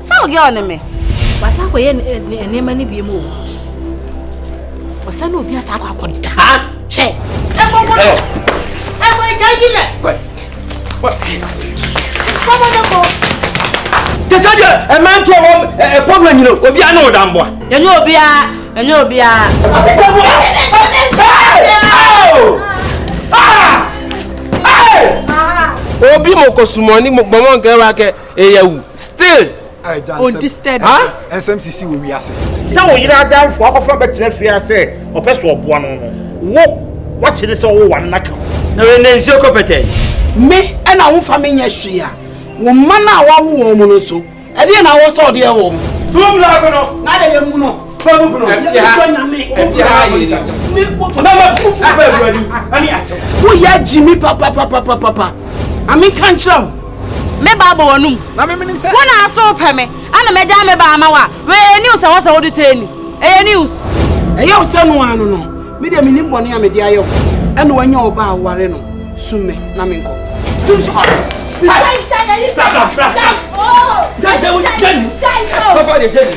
sɛ wo girl no me wasa akɔyɛ nneɛma no biem o ɔsɛ ne obi asa akɔ akɔda hwɛ ɛkɔkɔdɔ ɛkɔ ɛgya yi lɛ kɔkɔdɔkɔ te sɛ deɛ ɛmanteɛ wɔ ɛpɔmla nyina obia ne wo damboa ɛnyɛ obia ɛnyɛ obia obi mokɔ sumɔni mɔmɔ nkɛwa kɛ Eya wu still. O disturb. Ha? Nsɛm sisi wɔ wiase. Sɛ wo yere adamfo akɔfa bɛtena fie a sɛ ɔpɛ so ɔboa no no, wo wakyere sɛ ɔwɔ wane n'aka ho. Na wei na nsuo kɔ pɛtɛɛ. Me ɛna wo fa me nyɛ hwee a, wo mma no a wawo wɔn no nso, ɛdeɛ na awɔ sɛ ɔde yɛ wɔn? Too black no. Na de yɛ mu no. woyɛ gyimi papapapapapa ame nka nkyerɛ wo me ba bɔ wɔnom wo na aso pɛ me ana magya me ba ama wo a wɛyɛ news a wɔ sɛ wode tɛ ni ɛyɛ news ɛyɛ wo sɛ no ano no Me deɛ menim bɔne a mede ayɛ wo ɛna wanya ɔba a woware no sum me na menkɔ Tim so Jenny